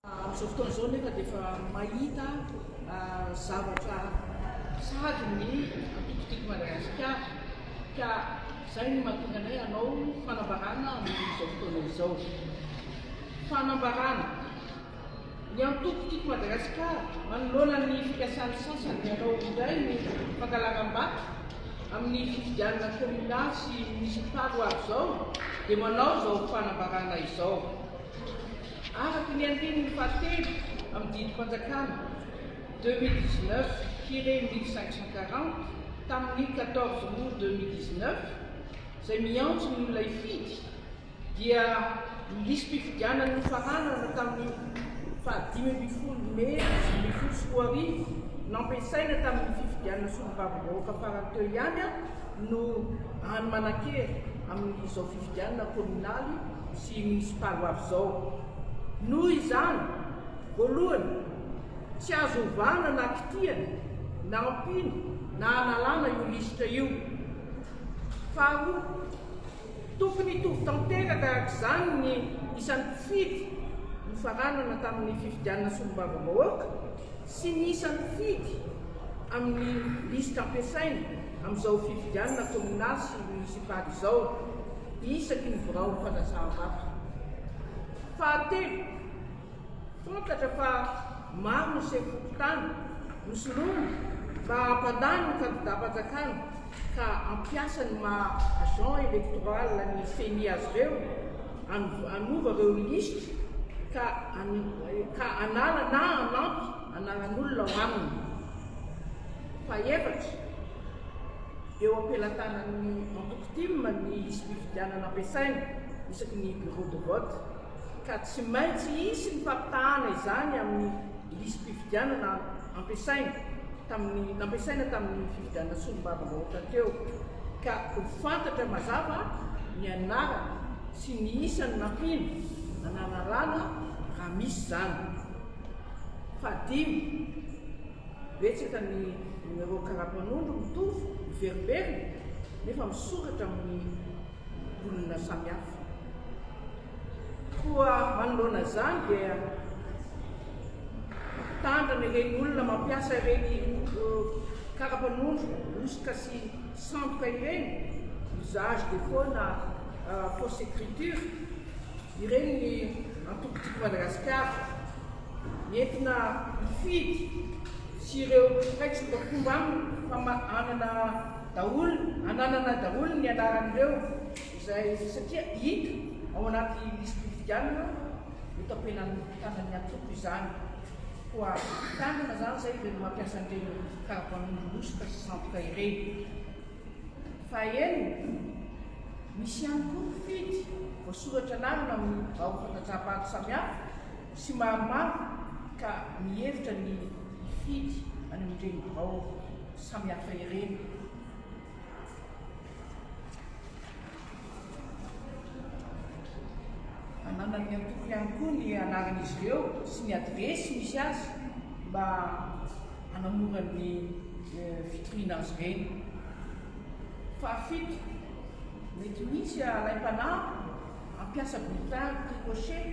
Amin'izao fotoana izao nefa dia efa mahita zavatra sahady ny antoko Tiako Madagasikara ka izay no mahatonga anay hanao fanambarana amin'izao fotoana izao. Fanambarana, Ny antoko Tiako Madagasikara, manoloana ny fikasan'ny sasany ny hanao indray ny fangalaram-bato amin'ny fifidianana kaominaly sy monisipaly ho avy izao dia manao izao fanambarana izao. Araka ny andininy fahatelo amin'ny didim-panjakana deux mille dix-neuf tiré mille cinq cent quarante tamin'ny quatorze aout deux mille dix-neuf izay miantso ny olona hifidy dia ny lisi-pifidianana nofaranana tamin'ny faha dimy ambin'ny folo mey dimy ambin'ny folo sy roa arivo nampiasaina tamin'ny fifidianana solombavambahoaka farany teo ihany no hany manan-kery amin'izao fifidianana kaominaly sy ny sitalo avizao. Noho izany, voalohany, tsy azo ovana na kitihana na ampiana na analana io lisitra io. Faharoa, tokony hitovy tanteraka araka izany ny isan'ny mpifidy nofaranana tamin'ny fifidianana solombavambahoaka sy ny isan'ny mpifidy amin'ny lisitra ampiasaina amin'izao fifidianana kaominaly sy monisipaly izao. Isaky ny birao mpanazava fahatelo, fantatra fa maro ny sefo fokontany no soloina mba hampandany ny kandidam-panjakana ka hampiasa ny maha agent electoral ny ceni azy ireo hanova ireo lisitra ka hanala na hanampy anaran'olona ao aminy. Fahefatra. Eo am-pelatanan'ny antoko tim ny lisi-pifidianana ampiasaina isaky ny bureau de vote ka tsy maintsy hisy ny fampitahana izany amin'ny lisi-pifidianana ampiasaina tamin'ny nampiasaina tamin'ny fifidianana solombavambahoaka teo ka ho fantatra mazava ny anarana sy ny isan'ny nampiana anararana raha misy izany. Fahadimy. Betsaka ny ireo karapanondro mitovy, miverimberina, nefa misokatra amin'ny olona samihafa. Koa manoloana izany dia mitandrina ireny olona mampiasa ireny karapanondro hosoka sy sandoka ireny, usage de faux na fausse écriture. Ireny ny antoko Tiako Madagasikara entina hifidy sy ireo mpiray tsimbamkomba aminy fa anana daholo ananana daholo ny anaran'ireo izay satria hita ao anaty lisi-pifidianana notapenan'ny tanan'ny antoko izany. Koa tanana izany izay ireny mampiasa an'ireny karapanondro hosoka sy sandoka ireny. Fahenina, Misy ihany koa mpifidy voasoratra anarana amin'ny birao fandatsaha-bato samihafa sy maromaro ka mihevitra ny hifidy any amin'ireny birao samihafa ireny. Ananan'ny antoko ihany koa ny anaran'izy ireo sy ny adiresy misy azy mba hanamora ny eh, fitoriana azy ireny. Fahafito, mety misy alaim-panahy hampiasa bulletin ricochet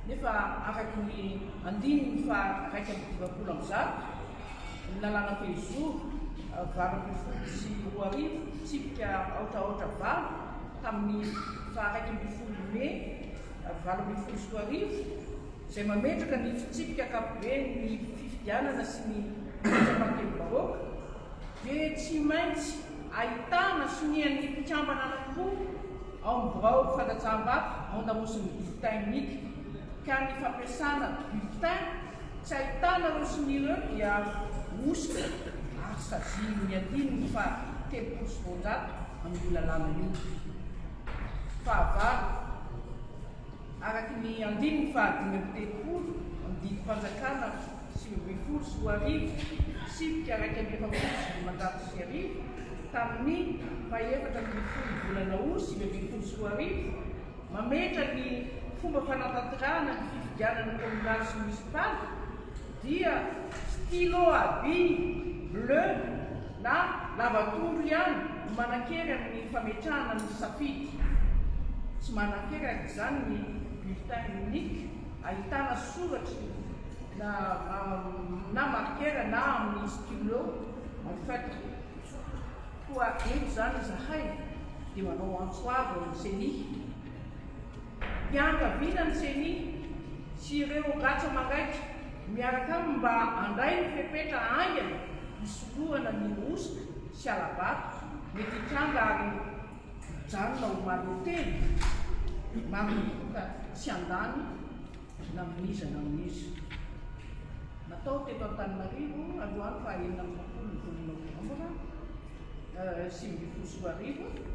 nefa araka ny andininy faha iraika amby dimampolo amby zato ny lalàna telozoro valo ambin'ny folo sy roa arivo tsipika aotra aotra valo tamin'ny faha iraika ambin'ny folo mey valo ambin'ny folo sy roa arivo izay mametraka ny fitsipika ankapoben'ny fifidianana sy ny fitsapan-kevi-bahoaka dia tsy maintsy ahitana sonian'ny mpikambana anankiroa ao amin'ny birao fandatsaham-bato mandamosy ny bulletin unique ka ny fampiasana bulletin Tsy ahitana ireo sy ny ireo dia hosoka ary sazian'ny hadino ny faha telopolo sy roanjato amin'io lalàna io. Fahavalo, araka ny andininy faha dimy amby telopolo amin'ny didim-panjakana sivy ambin'ny folo sy roa arivo, tsipika iraika amby efapolo sy dimanjato sy arivo, tamin'ny faha efatra ambin'ny folo volana Aout sivy ambin'ny folo sy roa arivo, mametra ny fomba fanatanterahana ny fifidianana kominaly sy monisipaly dia stylo à billes bleu na lavatombo ihany no manankery amin'ny fametrahana ny safidy. Tsy manankery arak'izany ny bulletin unique ahitana soratry na marker na amin'ny stylo en feutre. Koa eto izany izahay dia manao antso avo ho an'ny Ceni, mpianakaviana ny Ceni sy ireo ratsa-mangaika miaraka aminy mba handray ny fepetra haingana hisorohana ny hosoka sy hala-bato mety hitranga ary hijanona omaly telo manomboka tsy handany na amin'iza na amin'iza. Natao teto Antananarivo androany faha enina amby roapolo ny volana novambra sivy ambin'ny folo sy roa arivo.